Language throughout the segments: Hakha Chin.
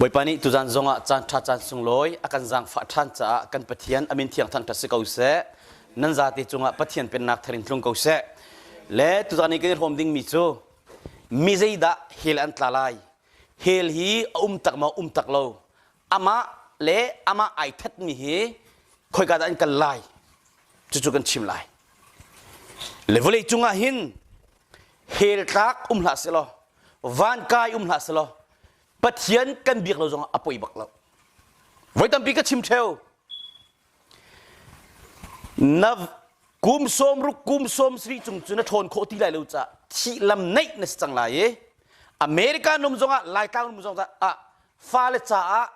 Bawipa nih tuzan zongah caan ṭha caan sunglawi a kan zaangfah ṭhan caah kan Pathian a min thiang thangṭhat si ko seh. Nan zate cungah Pathian pennak thar in tlung ko seh. Le tuzan i kan i hrawm dingmi cu mi zeidah hell an tla lai? Hell hi a um tak ma um tak lo. amah le amah ai thatmi hi khoika dah an kal lai cucu kan chim lai le vawlei cungah hin hel tlak um hlah selaw van kai um hlah selaw pathian kan biak lo zongah a poi bak lo voi tampi ka chim theo Na kum sawm ruk kum sawm sari cung cun na ṭhawn khawh ti lai lo caah thih lam neih na si cang lai i America num zongah Laitlang num zong ah fale caah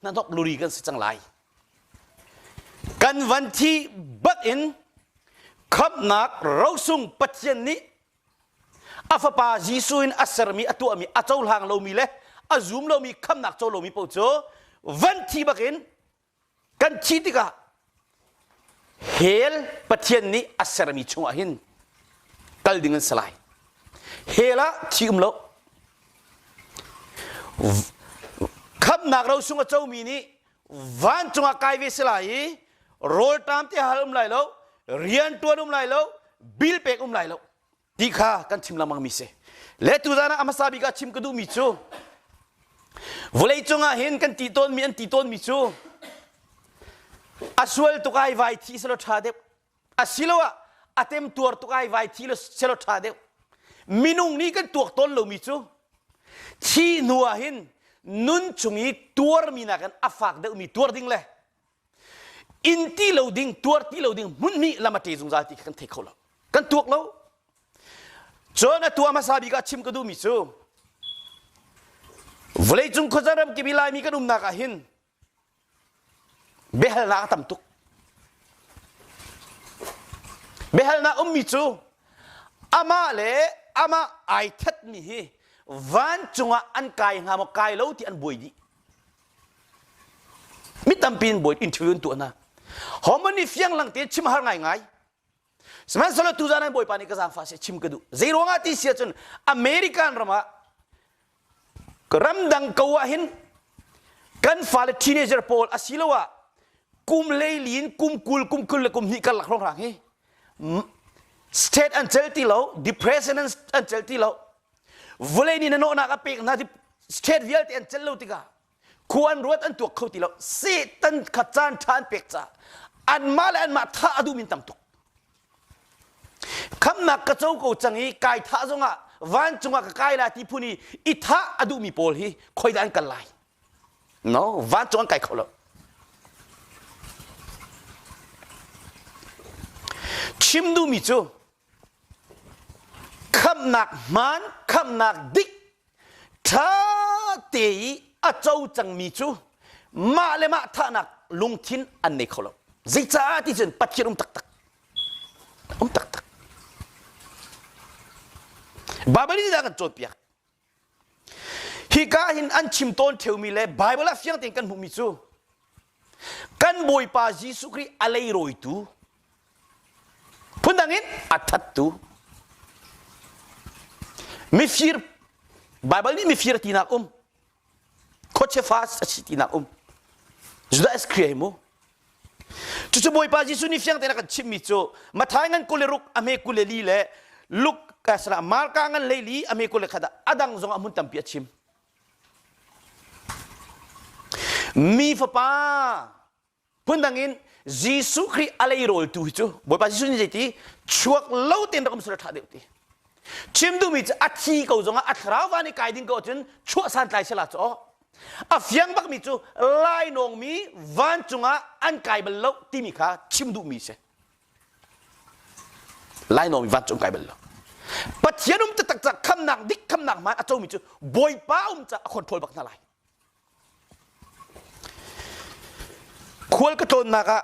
hnahnawk luri kan si cang lai. Kan van thi bat in khamnak rosung Pathian nih a fapa Jesuh in a sermi a tuahmi a cohlang lomi le a zum lomi khamnak co lomi paoh cu van thi bakin kan thih tikah hell pathian nih a sermi chungah hin kal ding an si lai hell ah thi um lo khamnak ro chung a comi nih vancung ah kai ve si lai i rawlṭam te hal um lai lo rian ṭuan um lai lo bil pek um lai lo ti kha kan chim lengmangmi si le tuzan ah a hmasa bik ah chim ka duhmi cu vawleicung ah hin kan ti tawnmi an ti tawnmi cu a sual tuk ai vai thi selo ṭha deuh asiloah a temtuar tuk ai vai thi selo ṭha deuh minung nih kan tuak tawn lomi cu thi hnu ah hin nun chung i tuarmi nakin a fak deuhmi tuar ding le in ti lo ding tuar ti lo ding hmunhmi lam a ṭe zungzal ti kan thei kho lo kan tuak lo cun a tua hmasa bik ah chim ka duhmi cu vawleicung khuazar ram kip i laimi kan umnak ah hin biahalnak a tam tuk biahalnak ummi cu amah le amah ai thatmi hi vancung ah an kai hnga maw kai lo ti an buai dih Mi tampi in bawi interview an tuah hna. Homoni fiang lang te chim har ngaingai. Sihmanhsehlaw tu zan Bawipa nih ka zaangfah se chim ka duh. Zei ruangah ti si ahcun American ram ah ramdang ko ah hin kan fale teenager pawl asiloah kum leili in kum kul kum kul le kum hnih kar lak hrong hrang hi state an cel ti lo depression an cel ti lo vawlei nih na nawhnak a pek hna ti state vialte an celh lo tikah khua an ruat an tuak kho ti lo satan kha caan ṭha an pek caah anmah le anmah thah a duhmin tam tuk khamnak ka co ko cang i kai thah zongah vancung ah ka kai lai ti phun i i thah a duhmi pawl hi khoidah an kal lai no vancung an kai kho lo chim duhmi cu khamhnak hmaan khamhnak dik ṭha te i a co cangmi cu mah le mah thahnak lungthin an nei kho lo zeicah ti cun pathian um taktak um taktak Baibal nih a kan cawnpiak Hika hin an chim tawn ṭheumi le Baibal ah fiang tein kan hmuhmi cu kan Bawipa Jesuh Khrih a leirawitu phundang in a thattu mifir Baibal nih mifir tinak um khuachia fa a si tinak um Judas Khrih ai mu Cucu Bawipa Jesuh nih fiang tein a kan chimhmi cu Mathai ngan kule ruk a hme kule li le Luke eh, sala, Marka ngan lei li a hme kule khat ah a dang zong ah hmun tampi a chim. Mi fapa phundang in Jesuh Khrih a leiroltu hi cu Bawipa Jesuh nih zeiti chuak lo tein rak um sila ṭha deuh ti. Chim duhmi cu a thi ko zong ah a thlarau van i kai ding ko ahcun chuah santlai sala cu A fiang bakmi cu lainawngmi vancung ah an kai bal lo timi kha chim duhmi si. Lainawngmi vancung kai bal lo. Pathian um taktak ca khamnak dik khamnak man a comi cu Bawipa um ca a control bak hna lai. Khual ka tlawnnak ah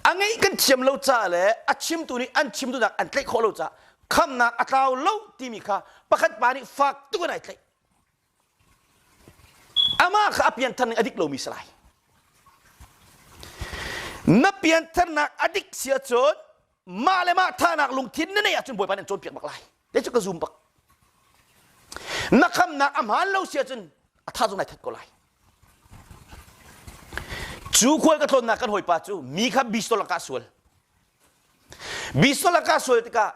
a ngei kan thiam lo ca le a chimtu nih an chimtunak an tlaih khawh lo ca khamnak a tlau lo timi kha pakhat pa nih fak tukin ai tlaih. Amah kha a pianthar nih a dik lomi si lai. Na piantharnak a dik sia cun mah le mah thahnak lungthin na neih ahcun Bawipa nih cawnpiak bak lai. Te cu ka zum bak. Na khamnak a hmaan lo sia cun a tha zong ai that ko lai. Cu khual ka tlawnnak kan hawipa cu mi kha bistol lakah sual. Bistol lakah sual tikah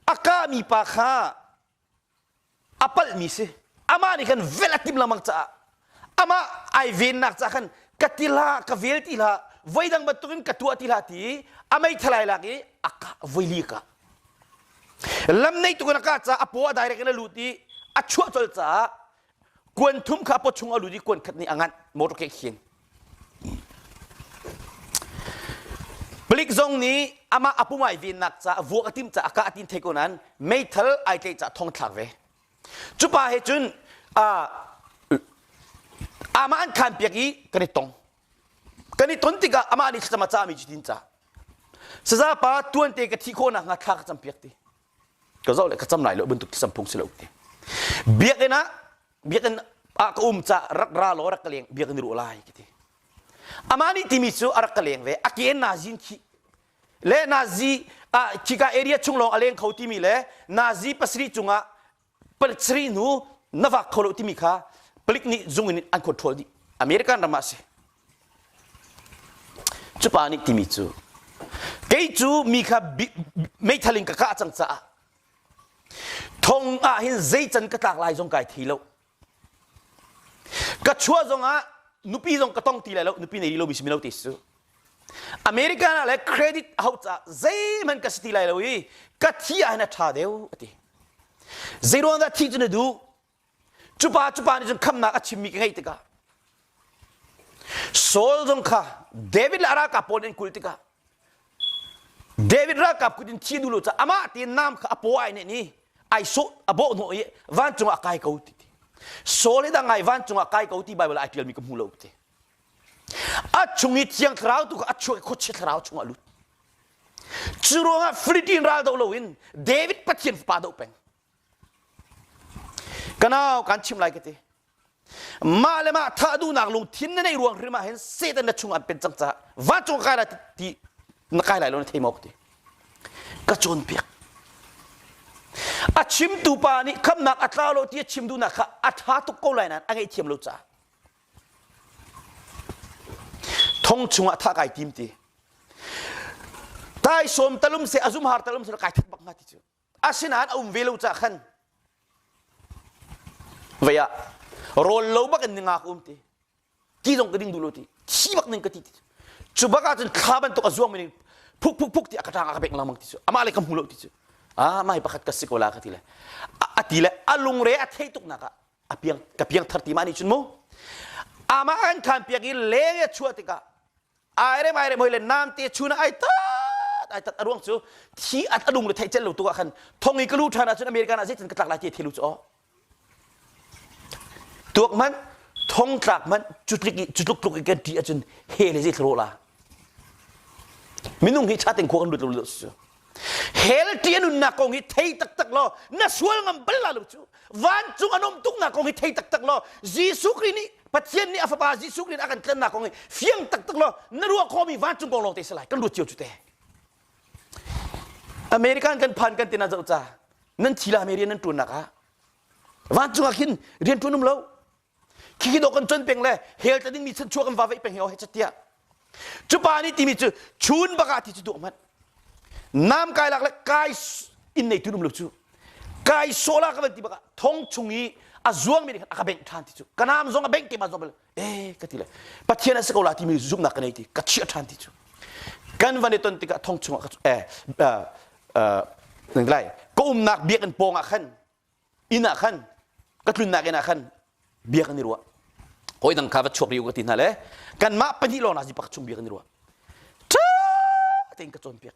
a kahmi pa kha a palhmi si amah nih khan velh a tim lengmang caah amah ai vennak ca khan ka ti hlah ka vel ti hlah voidang bantukin ka tuah ti hlah ti i a meithalai lak i a ka voi li ka lam nei tukin a ka caah a paw a direct in a lut i a chuah colh caah kuan thum kha pot chung a lut i kuan khat nih a nganh motor ke khin palik zong nih amah a pumai vennak caah vuak a tim caah a kah tin thei ko nan meithal ai tle caah thong thlak ve cupa he cun amah an khan piak i kan i tong kan i ton tikah amah nih thlacam a cahmi cu tin ca saza pa tuante ka thih khawhnak hnga thla ka cam piak ti ka zoh le ka cam lai lo bantuk ti samphung si lo ti biakinn ah biakinn ah ka um ca rak ra law rak ka leng biakinn i ruh lai ka ti amah nih timi cu a rak ka leng ve a ke nazin khi le nazi ah khika area chung lawng a leng kho timi le nazi pasarih cungah palik sarih nu na vak kho lo timi kha palik nih zung in an control dih American ram ah a si cupa nih timi cu kei cu mi kha meithal in ka kah cang caah thong ah hin zei can ka tlak lai zong kai thi lo ka chua zong ah nupi zong ka tong ti lai lo nupi nei rih lo mi si mino ti si American ah le credit a hauh caah zeihmanh ka si ti lai lo i ka thi ah hin a ṭha deuh a ti. Zeiruang dah thi cu na duh? Cupa cupa nih cun khamnak a chimmi ka ngaih tikah Saul zong kha David le a ralkap pawl nih an kulh tikah David ralkap kut in thi duh lo caah amah tein nam kha a paw ai nih ni ai sawh a bawh hnawh i vancung ah kai ko ti ti. Saul hi dang ai vancung ah kai ko ti Baibal ah ai ṭialmi ka hmu lo ti. a chung i thiang thlarau tu kha a chuah khuachia thlarau chung a lut cu ruangah flitin ral do loin david pathian fapa do peng kanau kan chim lai ka ti mah le mah thah duhnak lungthin na neih ruang hrim ah hin satan na chung an pen cang caah vancung kai lai ti na kai lai lo na thei mauk ti ka cawnpiak a chimtu pa nih khamnak a tla lo ti a chim duhnak kha a tha tuk ko lai nan a ngei thiam lo caah thong chungah thah kai tim ti tai sawm talum se azum har talum se kai that bak ma ti cu asinain a um ve lo ca khan vaya rol lo bak in ningak um ti ti zong ka ding dulo ti chi bak ning ka ti ti cu bak ah cun thla bantuk azuang mi ning phuk phuk phuk ti akatang aka bek lamang ti cu ama le ka hmu lo ti cu a mai pakhat ka si ko la ka ti le a ti le a lungre a thei tuk naka a piang ka piangthar ti ma ni chun mu amah an khan piang i leng ya chua tikah ai rem ai rem hoi le nam te chun ai tat ai tat aruang cu thi at adung le thei cel lo tu ah khan thong i kalu than ahcun america na zeitin katlak lai ti thelu cho tuak man thong tlak man cutlik cutluk tluk kan ti ahcun he le zei thlo la minung hi chatin ko an lut lo su hell ti a nunnak kong hi thei taktak law na sual ngam bal la lo cu vancung an um tuknak kong hi thei taktak law jesuh kri nih pathian nih a fapa jesuh kri nih a kan tlannak kong hi fiang taktak law na ruah khawmi vancung kong lawng te salai kan ruat cio cu te american kan phan kan tina zoh ca nan thila merian nan tuannak ah vancung ah khin rian tuan um lo khi khi dawh kan cuan peng le hel ta dingmi chanchuah kan vaveih peng he ohe catiah cu pa nih timi cu chun bakah ti cu duh mat nam kai lak le kai inn neitu num lo cu kai sola ka van ti bakah thong chung i a zuangmi nih khan a ka bengh ṭhan ti cu ka nam zong a bengh te ma zong eh ka ti le pathian a si ko la timi zumhnak ka nei ti ka chiah ṭhan ti cu kan van i ton tikah thong chungah ka eh, eh, eh, lai ka umnak biakinn pawngah khan inn ah khan ka tlunnak inn ah khan bia kan i ruah hawi dang kha va chuak rih u ka ti hna le kanmah pahnih lawng hna pakhat chung bia kan i ruah ṭha tein ka cawnpiak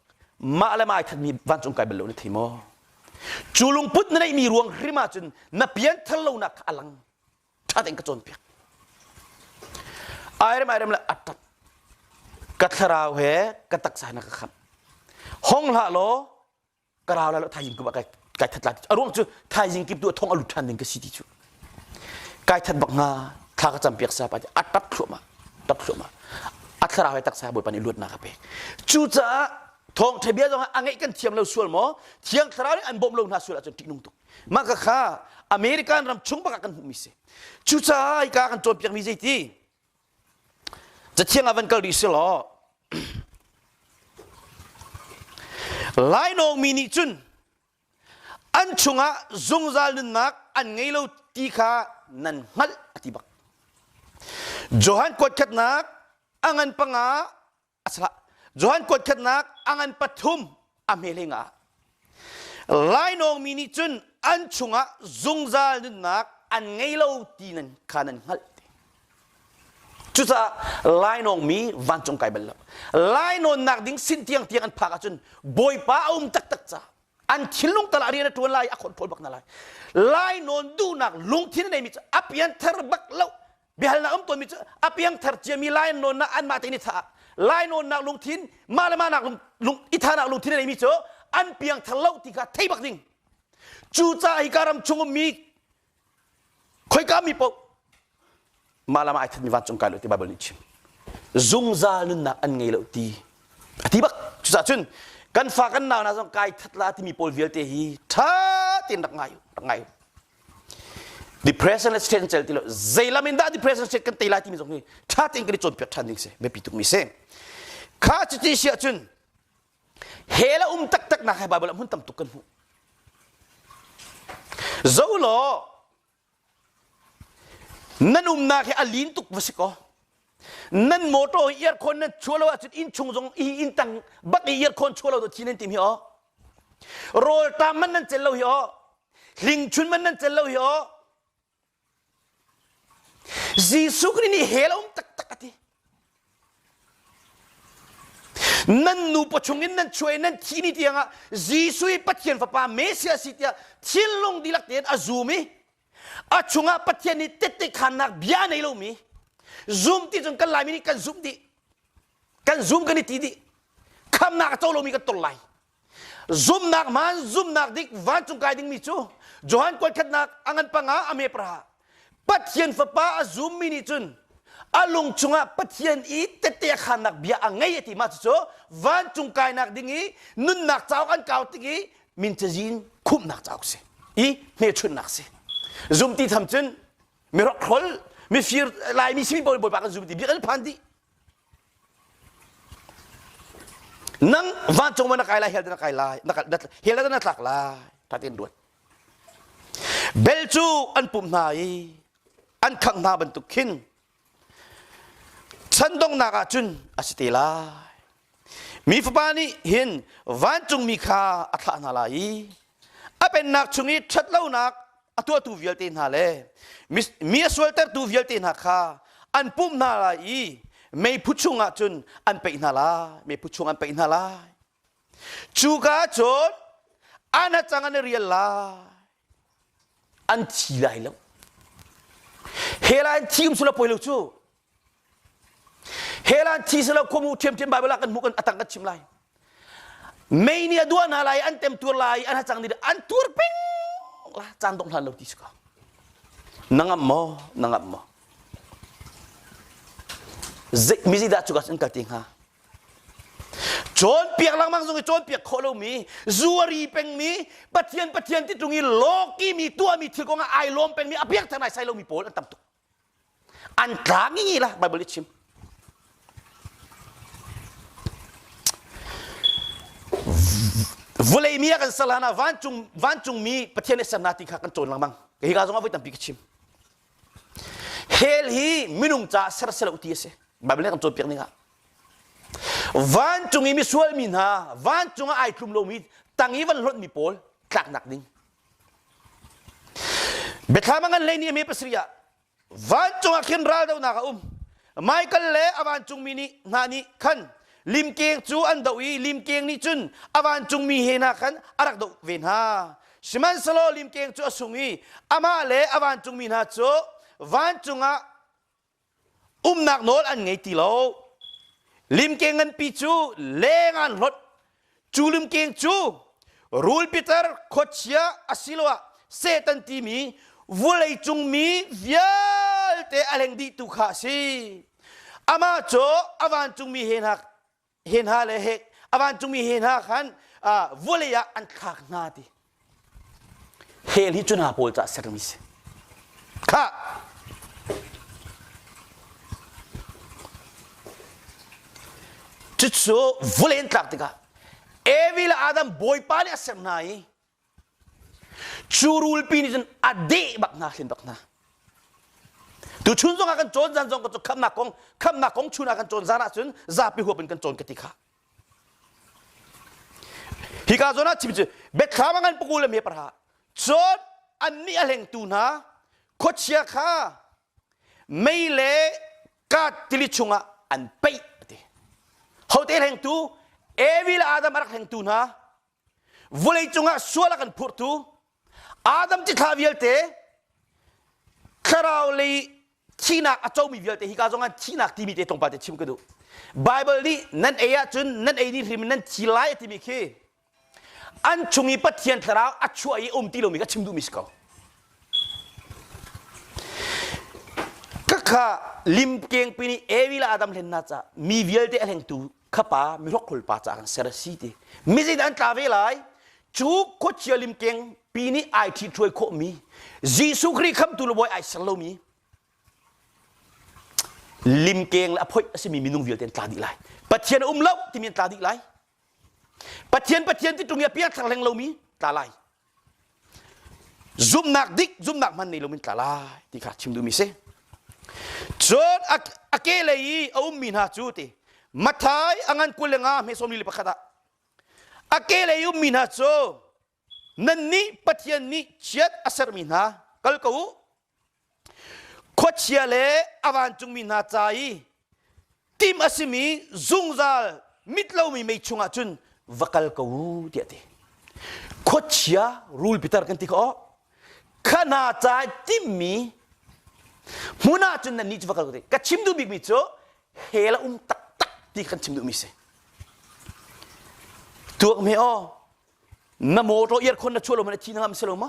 mah le mah ai thatmi vancung kai bal lo na thi maw cu lungput na neihmi ruang hrim ah cun na pianthar lonak kha a lang ṭha tein ka cawnpiak airem airem le atap ka thlarau he ka taksa na ka khamh hong hlah law ka rau la thaizing kuma kai kai that la a ruang cu thaizing kip tu thong a lut than ding ka si ti chu kai that bak nga thla ka champiak sa pa at tap thloma tap thloma at thlarau hai taksa boi pani luat na ka pe chu caah thong thebia zong a ngei kan thiam lo sual mo thiang thlarau nih an bom lo na sual a cun tik nung tuk ma ka kha american ram chung baka kan hmu mi se cu caah ka kan cawn piak mi zeiti Cathiang ah van kal rih selaw lainawng mi nih cun an chungah zungzal nunnak an ngei lo ti kha nan hngalh a ti bak Johan kuatkhatnak a ngan panga a sah Johan kuatkhatnak angan pathum a hmeling ah lainawng mi nih cun an chungah zungzal nunnak an ngei lo ti nan kha nan hngalh cucaah lainawng mi vancung kai bal lo lainawnnak ding sin tiang tiang an phak ahcun bawipa a um taktak ca an thinlung tala rian a tuan lai a khon phol bak na lai lainawn duhnak lungthin a neimi cu a pian thar bak lo biahal na um tawnmi cu a piangthar ciami lain nawnnak an mah te ni caah lai nawnnak lungthin mah le mah nak lung i thanak lungthin nei mi cu an piangthar lo ti kha thei bak ding cu ca hi ka ram chung ummi khoika mi paoh mah le mah ai thatmi vancung kai lo ti bible nih chim zungzal nunnak an ngei lo ti a ti bak cucah cun kan fa kan nau hna zong kai that la timi pawl vialte hi tha tein rak ngai rak ngai depression le stress cel ti lo zeilam in dah depression stress kan tei lai timi zong hi ṭha tein kan i cawnpiak ṭhan ding si biapi tukmi si kha cuti si ahcun he la um taktak nak he bible ah hmun tam tuk kan hmuh zo law nan umnak hi a lin tuk va si kaw nan motor hi earkhon nan chua lo ahcun inn chung zong i inn tang bak i earkhon chua lo to chin an tim hi o rawltam man nan cel lo hi o hlingchun man nan cel lo hi o Jesuh Khrih nih hel um taktak a ti nan nu pa chung in nan chuai nan thi ni tiangah Jesuh i Pathian fapa Messia si tiah thinlung dilak tein a zum i a chungah Pathian nih tette khannak bia nei lomi zum ti cun kan laimi nih kan zum dih kan zum kan i ti dih khamnak a co lomi kan tor lai zumnak man zumnak dik vancung kai dingmi cu Johan kual khatnak a ngan panga a me praha Pathian fapa a zummi nih cun a lung chungah Pathian i tette khannak bia a ngei a ti ma cucu vancung kainak ding i nunnak cauk an kau tik i min cazin khumhnak cauk si i hmechunhnak si zumti tham cun mirok hrol mifir laimi simi bawi bawi kan zumti bik al phan di nang vancung ma na kai lai hel na kai lai hel na tlak lai thatin ruat bel cu an pum hna i an khang hna bantuk khin Chan donghnak ah cun a si te lai. Mi fapa nih hin vancungmi kha a thlah hna lai i a pennak chung i ṭhatlonak a tuahtu vialte hna le mi a sualtertu vialte hna kha an pumh hna lai i meiphu chungah cun an peih hna lai. Meiphu chung an peih hna lai. Cuka cun an hacang an i rial lai. An thi lai lo. Hela an thi um sula poi lo cu. Hela an thi sula khuamu ṭhiamṭhiam Baibal ah kan hmuh kan atang kan chim lai. Mei nih a duah hna lai, an temtuar lai, an hacang nih an tuar peng la caan dongh hlan lo ti si ko. Na ngam maw? Na ngam maw? Zei mizi dah cuka in kal te hnga? cawnpiak lengmang zong i cawnpiak khawh lomi zuari pengmi pathian pathian ti tlung i lawki mi tuahmi thil kong ah ai lawm pengmi a biak theng lai sai lomi pawl an tam tuk an tlang ngi la bible i chim vulei mi a kan sal hana vancung vancungmi pathian i serna ti kha kan cawn lengmang hi ka zong ah voi tampi ka chim Hell hi minung caah ser si lo ti a si. Baibal kan cawnpiak ning ah. Vancung i misual mi hna, vancung ah ai tlum lomi, tang i van hlonmi pawl tlaknak ding. Bethlehem ngan lei ni me pasri ah vancung ah khin raldonak a um. Michael le a vancungmi nih hna nih khan limkeng cu an doh i limkeng nih cun a vancungmi he hna khan a rak doh ve hna. Sihmanhsehlaw limkeng cu a sung i amah le a vancungmi hna cu vancung ah umnak nawl an ngei ti lo. Limkeng nganpi cu leng aan hlawt, cu limkeng cu rul pitar khuachia asiloah Satan timi vawlei cung mi vialte a leng dih tu kha a si. Amah cu a vancungmi he hna he hna le he a vancungmi he hna khan vawlei ah an thlak hna ti. Heli cu hna pawl cu a sermi si. Kha! Cucu vulen tlak tikah Evi le Adam Bawipa nih a ser hna i cu rulpi nih cun a deh bak hna hlim bak hna. Tu chun zong ah kan cawn zan zong cu khamnak kong khamnak kong chun ah kan cawn zan ahcun zapi huap in kan cawn ka ti kha. Hika zawn ah chim cu biathlam a ngan pukul le meper ha cun annih a hlengtu hna khuachia kha mei le kat tili chungah an peih a ti. Hote hlengtu Evi le Adam a rak hlengtu hna vawlei cungah sual a kan phurtu Adam ci thla vialte thlarau lei thihnak a comi vialte hi ka zongah thihnak timi te tongpa te chim ka duh Bible nih nan ei ahcun nan ei ni hrim nan thi lai timi khi an chung i Pathian thlarau a chuah i um ti lomi ka chim duhmi si ko ka kha lim keng pin i Evi le Adam hlen hna ca mi vialte a hlengtu khapa mihrokhrol pa ca kan ser a si ti mizit an tla ve lai cu khuachia limkeng pi nih ai ṭhit hruai khawh mi Jesuh Khrih khamtu le voi ai ser lo mi limkeng le a phoih a simi minung vialte an tla dih lai Pathian a um lo timi an tla dih lai Pathian Pathian ti tung i a piang thar hleng lo mi tla lai zumnak dik zumnak man nei lomin tla lai ti kha chim duhmi si cun a ke lei i a ummi hna cu ti mathai angan kul le nga hmesom li pakhat ah a ke lei ummi hna cu nan nih pathian nih chiat a sermi hna kal ko u Khuachia le a vancungmi hna ca i tim a simi zungzal mit lomi mei chungah cun va kal ko u tiah ti. Khuachia rul pitar kan ti khawh. Kha hna ca i timmi hmun ah cun nannih cu va kal ko ti. Ka chim duh bikmi cu hell a um taktak ti kan chim duhmi si. Tuak me aw, na motor earkhon na chuah lo ma, na thi na ngam si lo ma?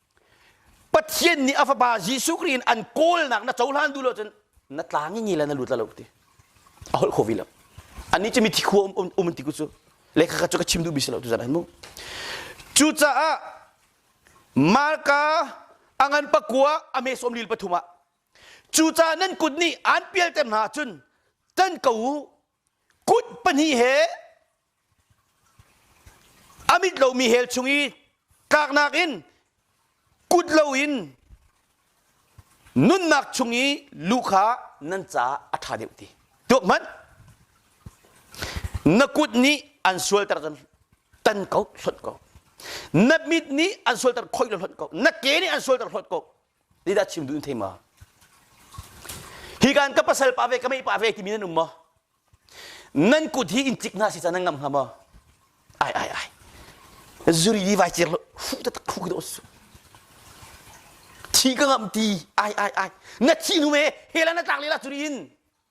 Pathian nih a fapa Jesuh Khrih in an kawlnak na cohlan duh lo cun na tlang i ngila na lut lo ti a holh kho vi lo anih cu mithi khua um um ti ku cu lekha ka cu ka chim duh bis lo tu zan an mu cucaah Marka a ngan pakua a mesawm lil pathum ah cucaah nan kut nih aan pialter hna cun tan ko u Kut pahnih he a mit lomi hell chung i kaknak in kut loin nunnak chung i lu kha nan caah a ṭha deuh ti. Tuak hmanh, na kut nih an sualter tan ko hlonh ko. Na mit nih an sualter khoi lo hlonh ko. Na ke nih an sualter hlonh ko. Leidah chim duh in thei ma? Hi kan ka pasal pa ve ka mei pa ve timi nan um maw? Nan kut hi in cik hna si caan nan ngam hnga maw? Ai ai ai. Zuri di vai cir lo. Hu ta tak hu da su. Thi ka ngam ti. Ai ai ai. Na thi nu me. Hela na tlak lela zuri in.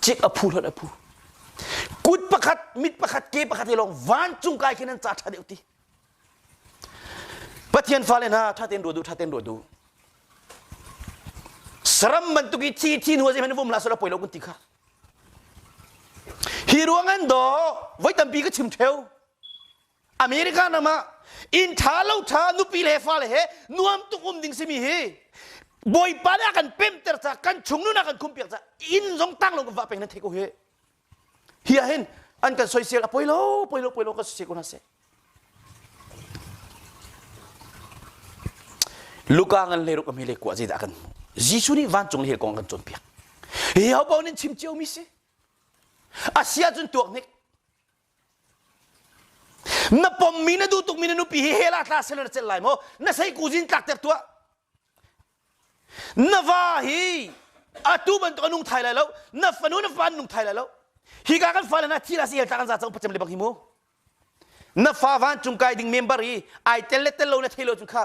Cik a phu hlawt a phu. Kut pakhat, mit pakhat, ke pakhat ke lawng vancung kai khin an ca ṭha deuh ti. Pathian fale hna ṭha tein ruat u, ṭha tein ruat u. Saram bantuk i thi thi hnuah zeihmanh vom la sala poi lo kun ti kha. Hi ruang an daw, voi tampi ka chim theo. America nam ah inn tha lo tha nupi le fale he nuam tuk um ding simi hi bawipa nih a kan pemter ca kan chungnun a kan khumpiak ca inn zong tang lo kan vah peng nan thei ko hi hi ah hin an kan soisel a poi lo poi lo poi lo kan soisel ko hna seh luka ngan le ruk ami le kuah zidah kan Jesuh nih vancung le kong kan cawnpiak hi ho pa nin chim cio mi si asia cun tuak nik na pommi na duh tukmi na nupi hi hela tla sel na celh lai maw na sei kuzin tlak ter tuah na va hi atu bantuk anung thai lai lo na fanu na fa nung thai lai lo hi ka kan fale na thi la si hel kan za chang pacem le bak hi mu na fa van cung kai ding member i ai tel le tel lo na thelo chu kha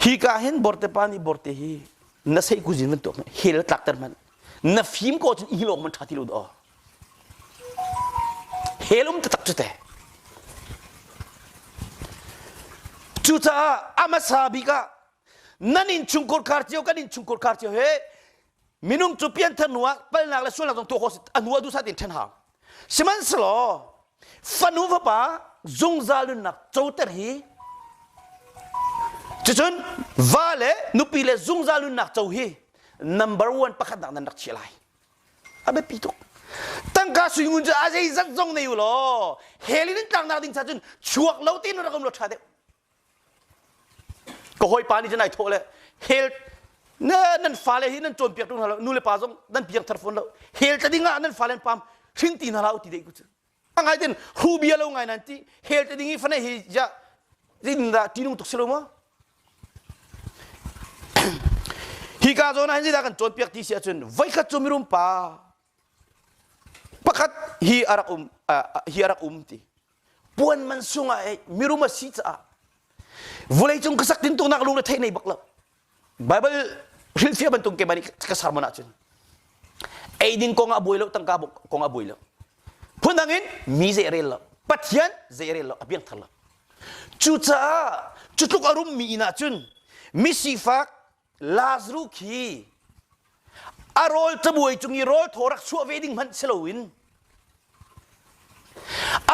Hika hin borte pa nih borte hi na seih kuzin bantuk hel tlakter hmanh na fim ko cun i lawng man ṭha ti lo daw hel um taktak cu te cucaah a hmasa bik ah nan innchungkhar cio kan innchungkhar cio he minung cu pianthar hnu ah palnak le sualnak zong tuah khawh a hnu ah duhsah tein ṭhen hau sihmanhsehlaw fanu fapa zungzal nunnak coter hi cucun va le nupi le zungzal nunnak co hi number one pakhatnak nan rak chiah lai a biapi tuk tangka suingun cu a zeizat zong nei u law helin in tlaknak ding cha cun chuak lo ti nun rak um lo ṭha deuh ka hawipa nih cun ai thawh le hel ne nan fale hi nan cawnpiak ṭung hna lo nu le pa zong nan piangthar fawn lo hel tla ding ah nan fale an pam hrin ti hna la u ti dei ku cu a ngai ten rubia lo ngai nan ti hel tla ding i fane hi ja zin da tinung tuk si lo ma hi ka zawn han zida kan cawnpiak ti si ahcun voi khat cu mirum pa pakhat hi a rak um hi a rak um ti puan man sung ah mirum a si caah vulei cung ka sak tin tuknak lung le thei nei bak lo bible hrilfia bantuk ke bani ka sermon ah cun eidin kong a buai lo tangka kong a buai lo phun dang in mi ze rel lo pathian ze rel lo a biang thar lo cucaah cutluk arum mi ina cun mi sifak Lazarus khi a rawl cabuai cung i rawl thaw rak chuah ve ding hmanh si loin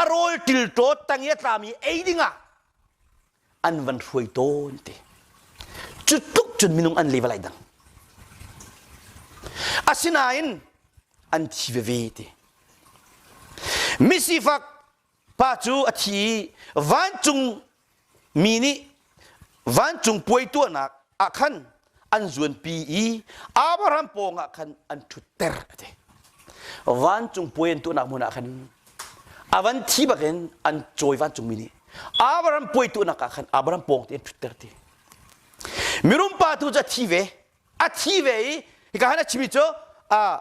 a rawl tilṭaw tang i a tlami ei dingah an van hruai tawn ti cu tluk cun minung an level ai dang asinain an thi veve ti misifak pa cu a thi i vancung mi nih vancung puai tuahnak ah khan an zuanpi i Abraham pawngah khan an ṭhutter a ti. Vancung puai an tuahnak hmun ah khan a van thi bakin an cawi vancungmi nih Abraham puai tuahnak ah khan Abraham pawng te an ṭhutter ti. Mirum pa tu cu a thi ve. A thi ve i hika han a chimi cu a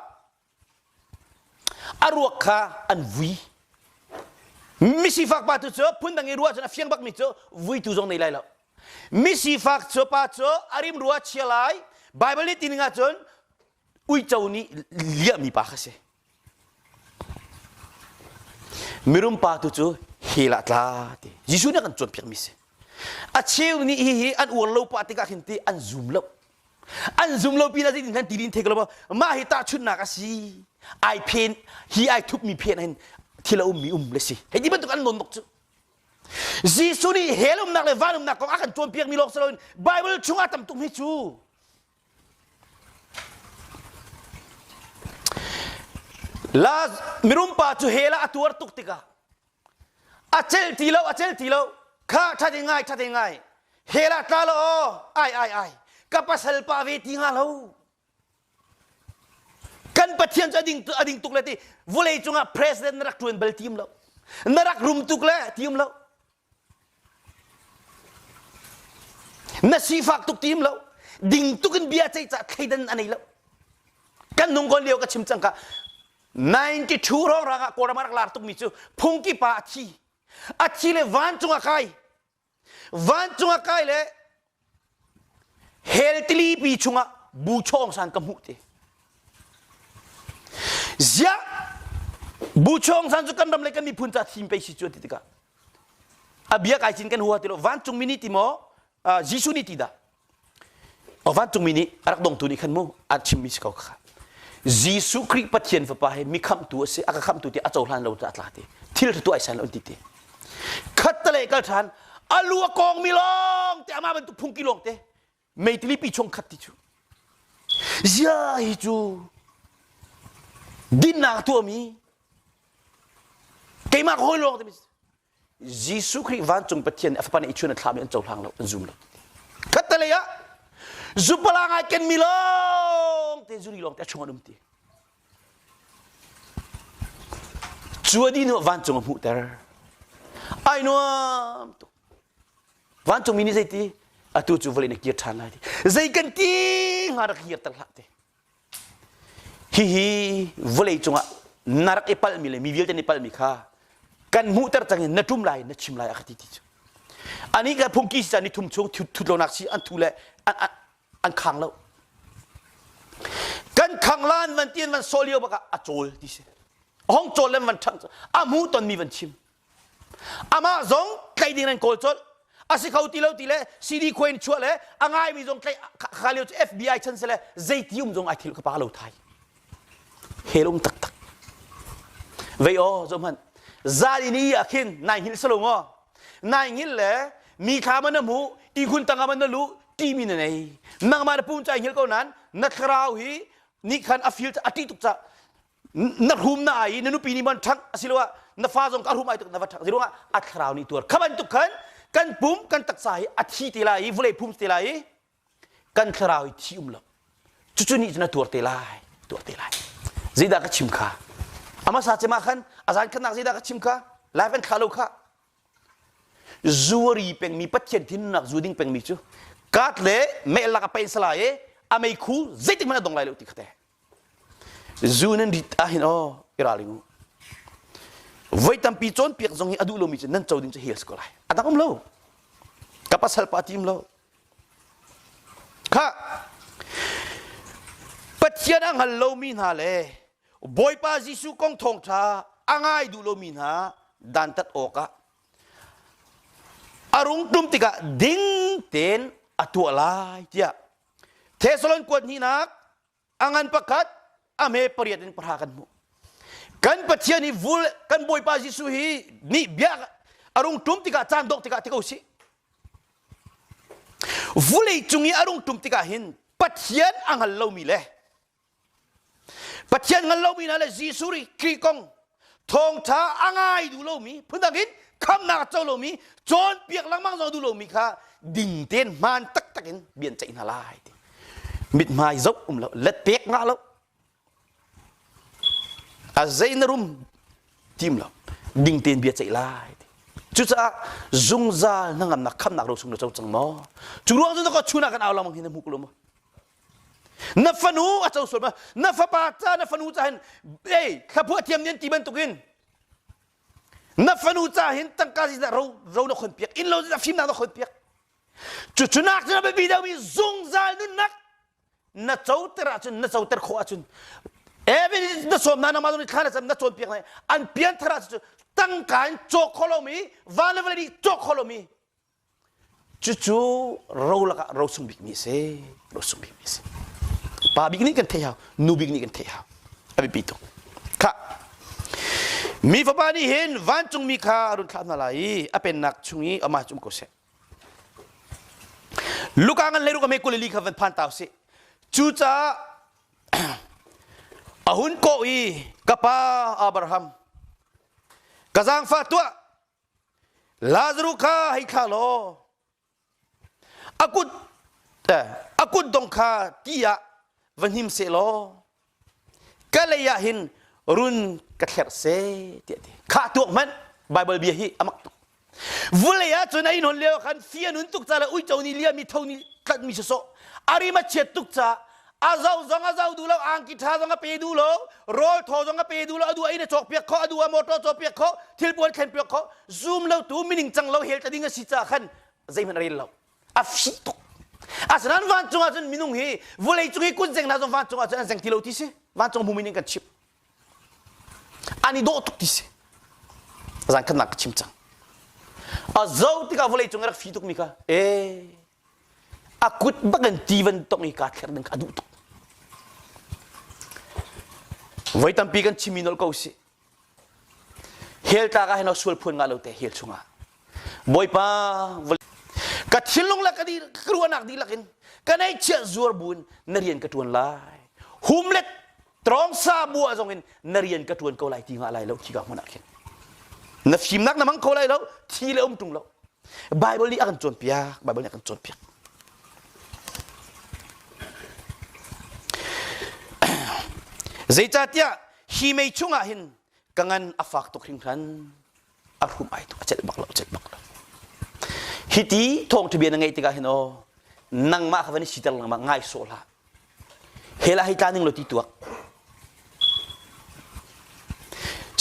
a ruak kha an vui misifak pa tu cu phundang i ruah cun a fiang bakmi cu vuitu zong nei lai lo misifak cu pa cu a rim rua chia lai baibal nih tining ahcun uico nih liahmi pa kha si mirum pa tu cu hel ah tla ti jesuh nih a kan cawnpiakmi si a cheu nih hihi an uar lo pa tikah hin ti an zum lo an zum lo pinah ding kan tilin thek lo mah hi tahchunnak asi ai phen hi ai thup mi phen hin thil a um mi um le si hei ti bantuk an non nok cu Jesuh nih hell umnak le van umnak kong a kan cawn piak mi lawk si loin Bible chungah tam tum hi cu la mirum pa cu hela a tuar tuk tikah a celh ti lo a celh ti lo kha ṭhate ngai ṭhate ngai hela tla lo ai ai ai ka pasal pa ve ti hnga lo kan pathian cu a ding a ding tuk le ti vawlei cungah president na rak ṭuan bal tiim lo na rak rum tuk le tiim lo Na sifak tuk tim lo ding tuk in bia ceih cah thleidan a nei lo kan nung kon lio ka chim cangka 92 ro rang ah kawlram rak lar tukmi cu phungki pa a thi a thi le vancung a kai vancung a kai le Hell tilipi chungah bu chawng san ka hmuh ti. Ziah bu chawng san cu kan ram le kan miphun ca thim pei si cu ti tikah a bia kai cin kan hua ti lo vancungmi nih ti maw Jesuh nih ti dah vancungmi nih a rak dongtu nih khan mu a chimmi si ko kha Jesuh Khrih Pathian fapa he mi khamtu a si a ka khamtu ti a cohlan lo ca a tla ti thil ṭha tu ai san lo an ti ti khatte leh kal ṭhan a lu a kawng mi lawng te ama bantuk phungki lawng te meitili pi chung khat ti cu zia hi cu dinnak tuahmi keimah hawi lawng te Jesuh Khrih vancung Pathian nih a fapa nih i chun a thlahmi an cohlang lo an zum lo katte lei ah zupala ngai ken mi lawng te zuri lawng te a chung an um ti Cu a dino vancung a hmuhter. Ai nuam tuk. Vancungmi nih zei ti? Atu cu vawlei na kir ṭhan lai ti. Zei kan ti hnga rak hir ter hlah ti. Hihi vawlei cungah na rak i palmi le mi vialte na i palmi kha kan hmuhter cang in na ṭum lai na chim lai a ka ti ti cu. Anih kan phungki si caan ni thum chung thut lonak si an thu le an, an, an khang lo kan khang lan van ti van so lio bak ah a cawl ti si hong cawl le van thang a mu ton mi van chim amah zong tlaih ding nan kawl col a si kho ti lo ti le CD Queen chuah le a ngai mi zong tlaih kha lio cu FBI chan se le zeiti um zong ai thil ka pa lo thai helum tak tak vei o zo hman zali ni a khin nai hil salong o nai ngil le mi kha man mu i hun tanga man lu timi na nei nangmah na pum cai hngil ko nan na thlarau hi ni khan a feel a ti tuk ca na rum na ai na nupi nih man thak asiloah na fa zong ka rum ai tuk na va thak si ruangah a thlarau nih tuar kha bantuk khan kan pum kan taksa hi a thi te lai i vulei phum te lai i kan thlarau hi thi um lo cucu nih na tuar te lai tuar te lai zeidah ka chim kha ama sa cema khan azan khan nak zeidah ka chim kha live an thla lo kha Zuari pengmi Pathian thinnak zu ding pengmi cu kat le meh lak a peih salai i a meikhu zeitik hmanh a dong lai lo ti khate zu nan rit ah hin aw i raling u voi tampi cawnpiak zong hi a duh lomi cu nan co ding cu hi a si ko lai a dang um lo ka pasal pa tim lo kha Pathian a hngal lomi hna le Bawipa Jesuh kong thawngṭha a ngai duh lomi hna dantat awkah a rung ṭum tikah ding tein a tuah lai tiah Thesalon kuat hnihnak a ngan pakhat a hme pariat in pahra kan hmuh. Kan Pathian hi vul kan Bawipa Jesuh hi nih bia a rung ṭum tikah caan dawh tikah ti ko si. Vulei cung i a rung ṭum tikah hin Pathian a hngal lomi le Pathian ngal lomi hna le Jesuh ri Khrih kong thawngṭha a ngai duh lomi phundang in khamnak a co lomi cawnpiak lengmang zong a duh lomi kha ding tein hmaan taktak in bian ceih hna lai ti mithmai zoh um lo let pek nga lo a zei na rum tim lo ding tein bia ceih lai cucaah zungzal na ngamnak khamnak ro sung na co cang maw cu ruang cu na ka chuna kan au lamang hi na hmu ko lo maw na fanu a co sual ma na fapa ca na fanu ca hin ei thlaphuah thiam nian ti bantukin na fanu ca hin tangka zi ro ro na khon piak in lo zi fim na na khon piak cucunak cu na biapi deuhmi zungzal nunnak na coter ahcun na coter khawh ahcun even na sawm na na ma zong thla na cam na cawn piak lai an pian thar ahcun tangka in cawk kholomi van le vale nih cawk kholomi Cucu ro lakah ro sung bikmi a si. Ro sung bikmi a si. Pa bik nih kan theih hau, nu bik nih kan theih hau. A biapi tuk. Kha. Mi fapa nih hin vancungmi kha a run thlah hna lai i a pennak chung i amah cu um ko seh. Luka ngan leiruk ame kuleli kha van phan ta usih. Cucaah a hun kawh i ka pa Abraham ka zaangfa tuah Lazarus kha hei thlah law a kut a kut dong kha ti ah va hnim seh law ka lei ah hin run ka thlerh seh tiah ti khah tuak hmanh Bible bia hi a mak tuk vulei ah cun ai non lio khan fi anun tuk ca le uico ni liam mi tho ni tlat mi sawsawh arim a chiat tuk ca a zau zong a zau duh lo angki tha zong a pe duh lo rawl thaw zong a pe duh lo adu ai na cawk piak kho adu a motor caw piak kho thil puan thlen piak kho zoom lo tu meaning cang lo hel tading a si ca khan zeihmanh a rel lo a fi tuk asnan van cung ahcun minung hi vulei cung hi kun zeng hna zong van cung ahcun an zeng ti lo ti si van cung hmu meaning kan chim ani dawh tuk ti si zan khan nak ka chim cang a zo tikah vulei cung i rak fi tuk mi kha eh a kut bak in tivan tong i kaa thler ding kha a duh tuk voi tampi kan chimmi nolh ko si hel tlak ah hin sual phuan nga lo te hel chungah bawipa ka thinlung le ka di ka ruahnak dihlak in ka nei chiah zuar buin na rian ka tuan lai humlet Trawngsa bu ah zongin na rian ka ṭuan ko lai ti nga lai lo khi ka hmun ah khin na fimnak na hmang ko lai lo thi le um ṭung lo Bible nih a kan cawnpiak Bible nih a kan cawnpiak zeicahtiah hi mei chungah hin ka ngan a fak tuk hringhran a hrum ai tuk a celh bak lo celh bak lo hiti thawng ṭha bia na ngeih tikah hin aw nangmah kha van i siter lengmang ngai sawh hlah hela hei tla ning law ti tuak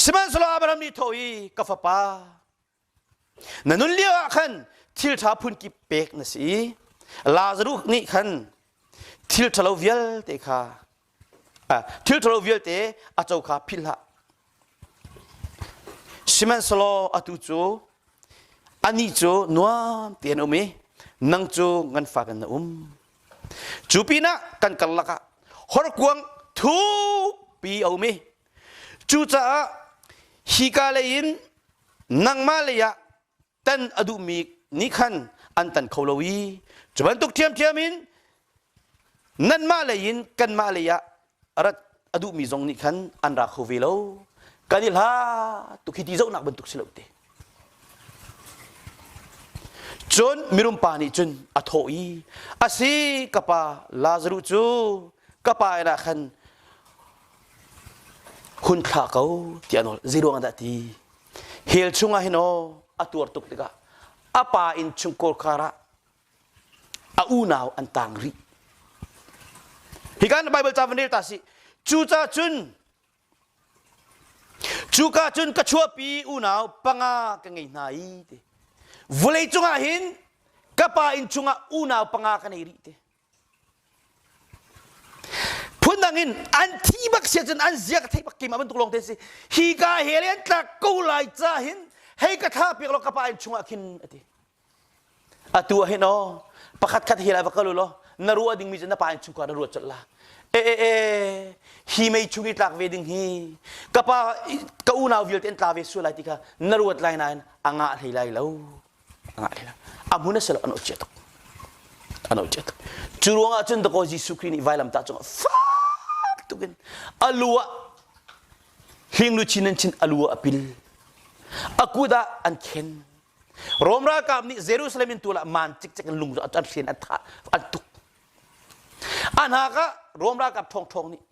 sihmanhsehlaw Abraham nih tho i ka fapa Na nun lio ah khan thilṭha phunkip pek na si i Lazarus nih khan thil ṭhalo vialte kha thil ṭhalo vialte a co kha philh hlah. Sihmanhsehlaw atu cu anih cu nuam tein um i nang cu ngan fa in na um. Cu pinah kan karlak ah horkuang thukpi a um i Cucaah hika lei in nangmah lei ah tan a duhmi nih khan an tan kho lo i cu bantuk ṭhiamṭhiam in nanmah lei in kanmah lei ah rat a duhmi zong nih khan an ra kho ve lo kan i hlat tuk hi ti zohnak bantuk si lo te cun mirum pa nih cun a thawh i a si ka pa lazaruh cu ka pa inn ah khan hun thlah ko ti a nawl zeiruangah dah ti hell chungah hin aw a tuar tuk tikah a pa in chungkawr kar ah a unau an tang rih hi kan bible ca van rel ta si cuca cun cuka cun ka chuahpi unau panga ka ngei hna i te vawlei cungah hin ka pa inn chungah unau panga ka nei rih te phundang in an thi bak sia cun an zia ka theih bak keimah bantuk lawng te si hi ka he le an tlak ko lai ca hin hei ka thla piak law ka pa in chungah khin ati atu ah hin o pakhat khat hi lai va kal law na ruah dingmi cu na pa in chungka na ruat col la e e e hi mei chung i tlak ve ding hi ka pa ka unau vialte an tla ve sual lai ti kha na ruat lai nain a ngah hlei lai lo ngah hlah amun a silo an ocia tuk an ocia tuk cu ruangah cun dakaw Jesuh Khrih nih vailamtah cungah fak tukin alu ah hingluchin an chin alu ah a pil a kut ah an khen Rom ralkap nih Jerusalem in tulah man cikcek in lung an hren an tha an tuk an hak ah Rom ralkap thawngthawng nih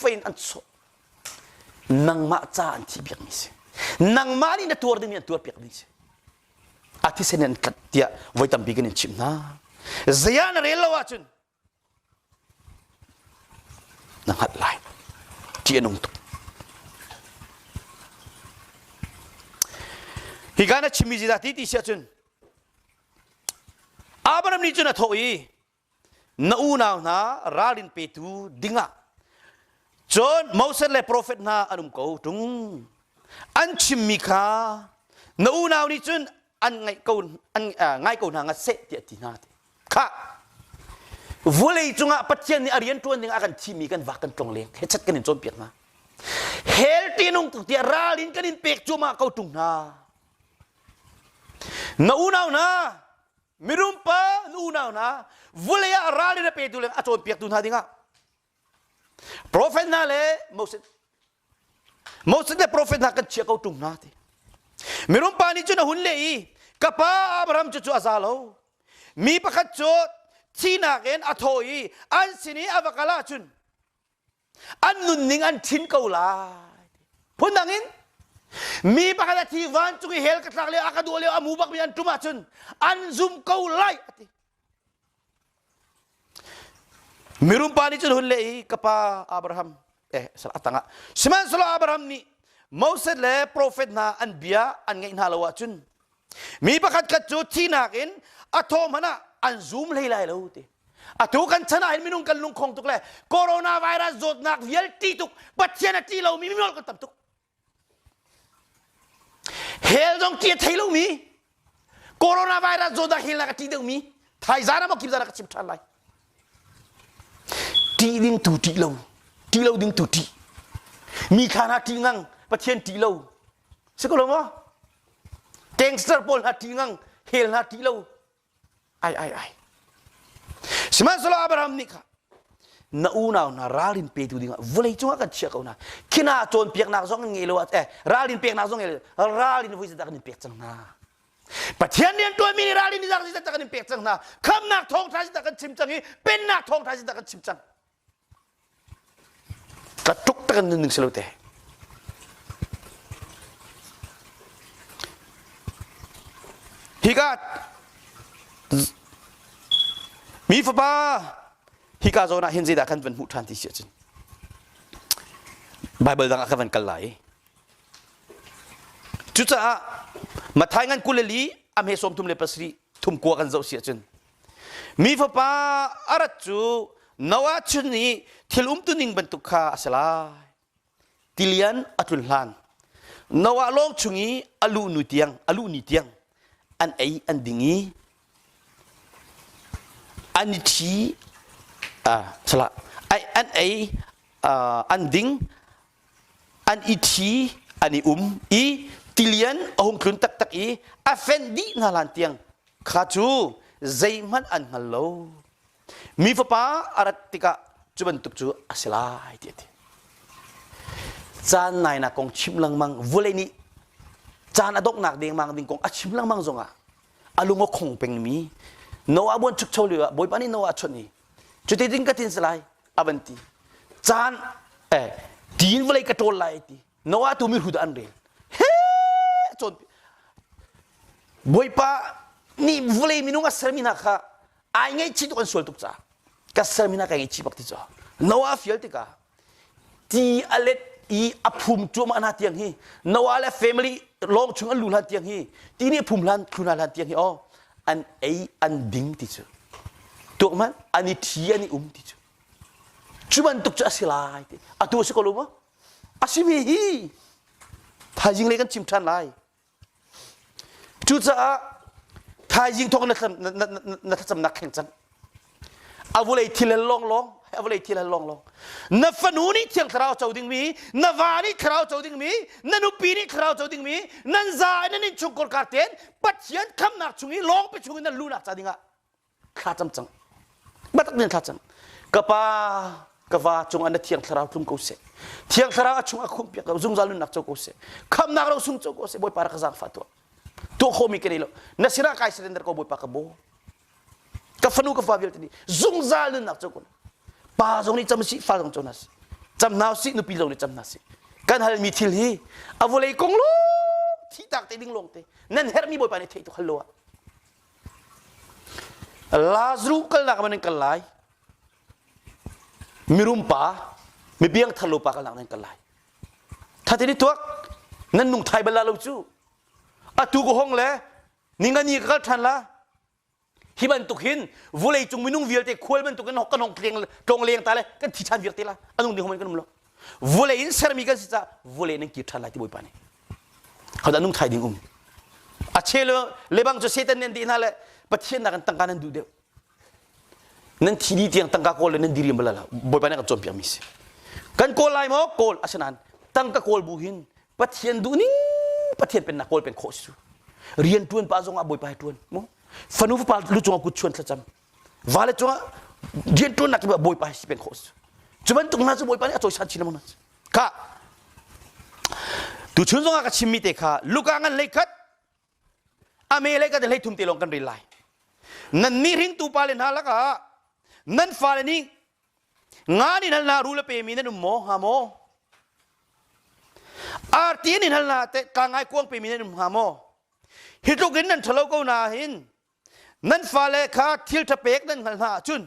fein an sawh nangmah ca an thi piakmi si nangmah nih na tuar dingmi an tuar piakmi si a thisen in an kat tiah voi tampi kan in chimh hna zaya na rel lo ahcun na hngalh lai ṭih a nung tuk hi ka na chimmi ziza ti ti si ahcun abraham nih cun a thawh i na unau hna ralrin petu dingah cun Moses le profet hna an um ko ṭung an chimmi kha na unau nih cun an ngaih ko an ngai ko hna nga seh ti a ti hna ti kha vawlei cungah Pathian nih a rian ṭuan dingah a kan thimi kan vak kan tlong leng hechat kan in cawnpiak hna hel tinung tuk tiah ral in kan in pek cuahmah ko ṭung hna na unau hna Mirum pa nu unau hna vulei ah ral le petu le a cawnpiaktu hna dingah profet hna le Moses Moses le profet hna kan chia ko ṭung hna ti mirum pa nih cun a hun leh i ka pa Abraham cu cu a za lo mi pakhat cu thihnak in a thaw i an sin i a va kal ah cun an nunning an thin ko lai phundang in mi pakhat a thi vancung i hell ka tlak lio a ka duh lio a mu bak mi an ṭum ahcun an zumh ko lai a ti mirum pa nih cun hun leh i ka pa Abraham eh a tangah sihmanhsehlaw Abraham nih Moses le profet hna an bia an ngaih hna lo ahcun Mi pakhatkhat cu thihnak in a thaw hmanh ah an zum hlei lai lo ti. Atu kan chan ah hin minung kan lungkhong tuk le coronavirus zawtnak vialte tuk Pathian a ti lomi mimual kan tam tuk. Hell zong ti a thei lomi coronavirus zawtnak hell nak a ti deuhmi thaizan ah maw kip zan ka chim ṭhan lai. Ti ding tu ṭih lo, ti lo ding tu ṭih. Mi kha hna ṭih ngang, Pathian ṭih lo, si ko lo maw gangster pawl hla ṭi ngang hel hla ṭi lo ai ai ai sihmanhsehlaw Abraham nih kha na unau hna ralrin petu dingah vawlei cungah kan chiah ko hna khina cawnpiaknak zong an ngei lo eh ralrin peknak zong ngei lo ralrin voi zedah kan in pek cang hna Pathian rianṭuanmi nih ralrin ni zar zedah kan in pek cang hna khamnak thawngṭha zedah kan chim cang i pennak thawngṭha zedah kan chim cang Ka tluk tak in nunning si lo te. Hi ka mi fapa hi ka zawn ah hin zeidah kan van hmuh ṭhan ti si ahcun Baibal dang ah ka van kal lai i cucaah Matthai ngan kul le li a hme sawm thum le pasarih thum kua kan zoh si ahcun Mi fapa a rat cu Noah chun i thil umtuning bantuk kha a si lai. Tilian a tlun hlan Noah lawng chung i a lu nu tiang a lu ni tiang an ei an ding i an i thi salah an ei an ding an i thi an i um i tilian a hung tlun taktak i a fenh dih hna hlan tiang Kha cu zeihmanh an hngal lo. Mi fapa a rat tikah cu bantuk cu a si lai ti a ti. Caan nainak kong chim lengmang vulei nih caan a donghnak dengmang ding kong a chim lengmang zongah a lung a khong pengmi Noah buanchukcho lioah Bawipa nih Noah a chawnh i cuti tin ka tin si lai a van ti caan eh tiin vawlei ka ṭawl lai ti Noah tu mihrut an rel. He cawn Bawipa nih vawlei minung a sermi hna kha ai ngaihchih tuk an sual tuk caah ka sermi hna ka ngaihchih bak ti cu. Noah fial tikah ti a let i a phum cuahmah hna tiang hi Noah le family lawng chung an lu hlan tiang hi ti nih phum hlan thlu hna hlan tiang hi oh an ei an ding ti cu tuakman an i thi an i um ti cu cu bantuk cu a si lai ti atu a si ko lo maw a simi hi thaizing lei kan chim ṭhan lai cucaah thaizing thawk na na thlacamnak kheng cang a vulei thil hal lawnglawng a vulei thil hal lawnglawng na fanu nih thiang thlarau co dingmi na va nih thlarau co dingmi na nupi nih thlarau co dingmi nan za in nan innchungkhar ka ten pathian khamnak chung i lawng pe chung in nan lunak ca dingah thla cam cang batak men thla cang ka pa ka va cungah na thiang thlarau tlum ko seh thiang thlarau a chung a khum piak ko zungzal nunnak co ko seh khamnak ro sung co ko seh bawipa ra ka zang fa tua tu khomi ka nei lo na sinah kai surrender ko bawipa ka bo ka fanu ka fa vialte ni zungzal nunnak co ko pa zong nih cam si fa zong co na si cam nau si nupi zong nih cam na si kan hal mi thil hi avulei kong lo thi tak te ding long te nan hermi bawipa ne thei tu khallo Lazarus kalnak ah nan kal lai. Mirum pa, mibiang tharlo pa kalnak nan kal lai. Thatin i tuak, nan nung thai bal la lo cu. Atu ko hong le, ningani ka kal than la. Hi bantuk hin vulei cung minung vialte khual bantuk in kan hong tleng tlong leng ta le kan thi than viak te la. Anung ding hom kan um lo. Vule in sermi kan si caah vule nan kir ṭhan lai ti Bawipa nih. Hodah nung thai ding um. A che le lebang cu Satan nih an dih hna le Pathian nakin tangka nan duh deuh. Nan thi dih tiang tangka kawl le nan diriam bala Bawipa nih kan cawnpiakmi si. Kan kawl lai maw? Kawl. Asinain tangka kawl bu hin Pathian duh ning Pathian pennak kawl pen khawh si cu. Rian ṭuan pah zongah Bawipa he ṭuan. Mu. Fanu fapa lu cungah kut chuan thlacam. vale cungah rianṭuannak cu bawipa he si peng khawh a si cu bantuk hna cu bawipa nih a cawisan chin lengmang hna kha tuchun zongah ka chimmi te kha luka ngan lei khat a me lei khat hlei thum te lawng kan rel lai nannih ringtu pa le hna lakah nan fale nih ngan in hal na rule pemi nan um maw hnga maw arti in in hal na te ka ngai kuang pemi nan um hnga maw hi tluk in nan ṭhalo ko na hin nan fale kha thil ṭhapek nan hngalh hna ahcun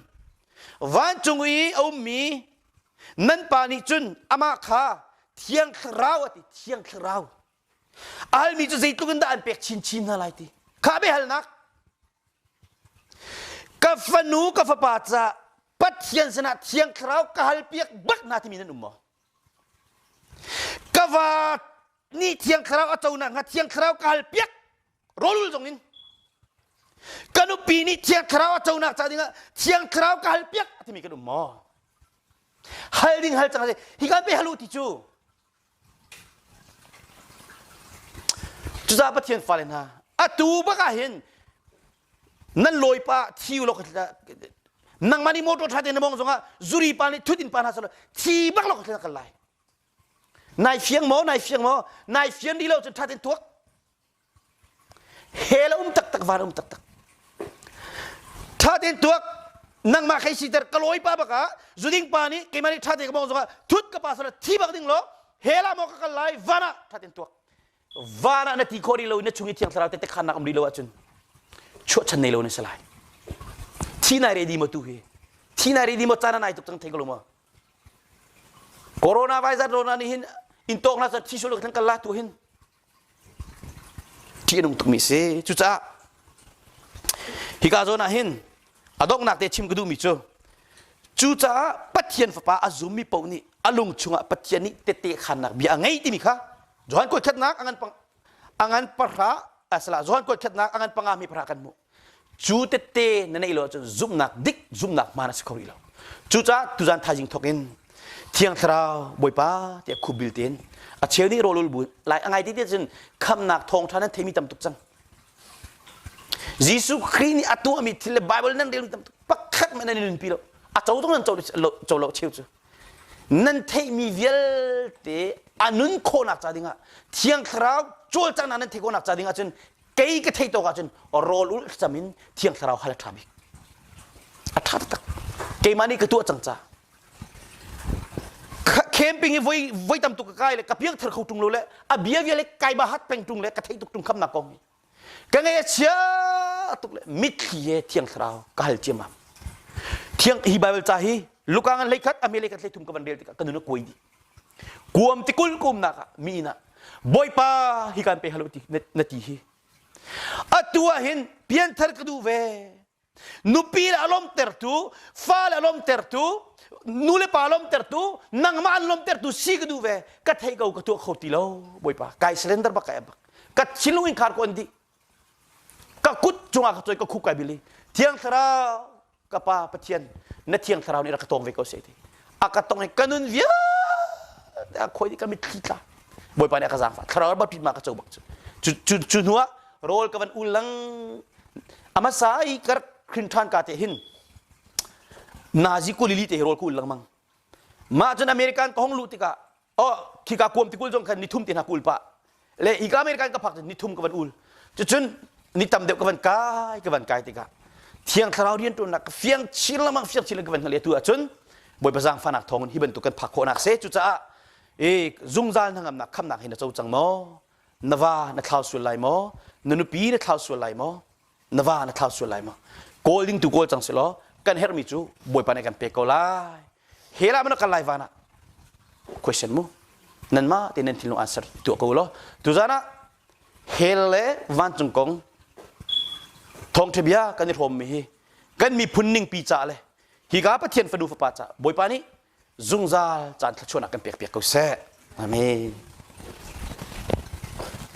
vancung i a ummi nan pa nih cun amah kha thiang thlarau a ti thiang thlarau almi cu zeitluk in dah an pek chinchin hna lai ti kha biahalnak ka fanu ka fapa ca pathian sinah thiang thlarau ka hal piak bak na timi nan um maw ka va nih thiang thlarau a co nakhnga thiang thlarau ka hal piak rawl zong in ka nupi nih thiang thlarau a conak ca dingah thiang thlarau ka hal piak a timi kan um maw hal ding hal cang a si hi kan pe hal u ti cu cucaah pathian fale hna atu bak ah hin nan lawipa thi u law nangmah nih motor ṭha te na mong zongah zuri pa nih thut in pa hna solo thi bak law ka kal lai nai fiang maw nai fiang maw nai fian rih lo cun ṭha ten tuak he la um taktak van um taktak tha ten tuak nangmah khei si ter ka lawi pa baka zuding pa nih keimah nih tha te ka mong zongah thut ka pa sala thi bak ding lo he la mo ka kal lai vana tha ten tuak vana na ti kho ri lo na chung i thiang thlarau te te khan nak um ri lo ahcun chuah chan nei lo ne salai thi nai re di mo tu hi thi nai re di mo chana nai tuk tang thei ko lo mo corona virus rona ni hin in tok na sa thi sul kan kala tu hin ṭih a nung tukmi a si. Cucaah hika zawn ah hin a donghnak te chim ka duhmi cu cucaah Pathian Fapa a zummi paoh nih a lung chungah Pathian nih tete khannak bia a ngei timi kha Johan kuat khatnak a ngan pahra a salah Johan kuat khatnak a ngan pangami pahra kan hmuh. cu tette na neih lo ahcun zumhnak dik zumhnak hmaan a si kho rih lo cucaah tuzaan thaizing thawk in thiang thlarau bawipa tiah khup bil tein a cheu nih rawlul bu lai a ngai ti tiah cun khamnak thawngṭha nan theimi tam tuk cang Jesuh Khrih nih a tuahmi thil le Bible nan relmi tam tuk pakhat men nan nunpi lo a co zong nan co lo cheu cu nan theihmi vialte a nun khawhnak ca dingah thiang thlarau cawlcanghnak nan theih khawhnak ca dingah cun kei ka theih tawk ahcun rawl ul cam in thiang thlarau hal a ṭha bik a ṭha taktak keimah nih ka tuah cang ca camping i voi voi tam tuk ka kai le ka piang thar kho ṭung lo le a bia bia le kai ba hat peng ṭung le ka theih tuk ṭung kham nak kong ka ngei a chia tuk le mitthli he thiang thlarau ka hal ciam am thiang hi bible ca hi luka ngan leikhat a me leikhat hlei thum ka van rel tikah ka nun a kuai dih kuam ti kul kumnak ah mi inn ah bawipa hi kan pe halo ti na ti hi atu ah hin pianthar ka duh ve nupi le alom tertu fa le alom tertu nu le pa lom tertu nangmah an lom tertu si ka duh ve ka thei ko ka tuah kho ti lo bawipa kai surrender bak kai bak ka sinlung in khar ko an di ka kut cungah ka ka khukai bili thiang thlarau ka pa pathian na thiang thlarau nih rak ka tong ve ko sai ti a ka tong ka nun via a khoi ni ka mitthli tla bawipa nih a ka zaang fa thlarau ba pit ma ka cho bak cu cu cu hnuah rol ka van ulang amasai kar khin than ka te hin nazi kulili te rol ku ulang mang mah cun american ka hong lu tikah oh khika kuam tikul zong khan ni thum te hna kul pa le hika men kan ka phak ni thum ka van ul cucun ni tam deuh ka van kai ka van kai tikah thiang thlarau rian tuannak ka fiang chin lamang fiang chin ka van hna le tu ahcun bawipa zang fanak thawng hi bantuk kan phak khawhnak se cucaah e zungzal hnangamnak khamnak hi na co cang maw na va na thlau sual lai maw na nupi na thlau sual lai maw na va na thlau sual lai ma kawl ding tu kawl cang si law kan herhmi cu bawipa nih kan pek ko lai hela mana kan lai van ah question mu nan ma te nan thinlung answer tu ko lo tu zana hel le vancung kong thongthe bia kan i rom mi hi kan mi phun ning pi ca le hi ka pathian fanu fapa ca bawipa nih zungzal caan thlachuan kan pek pek ko se amen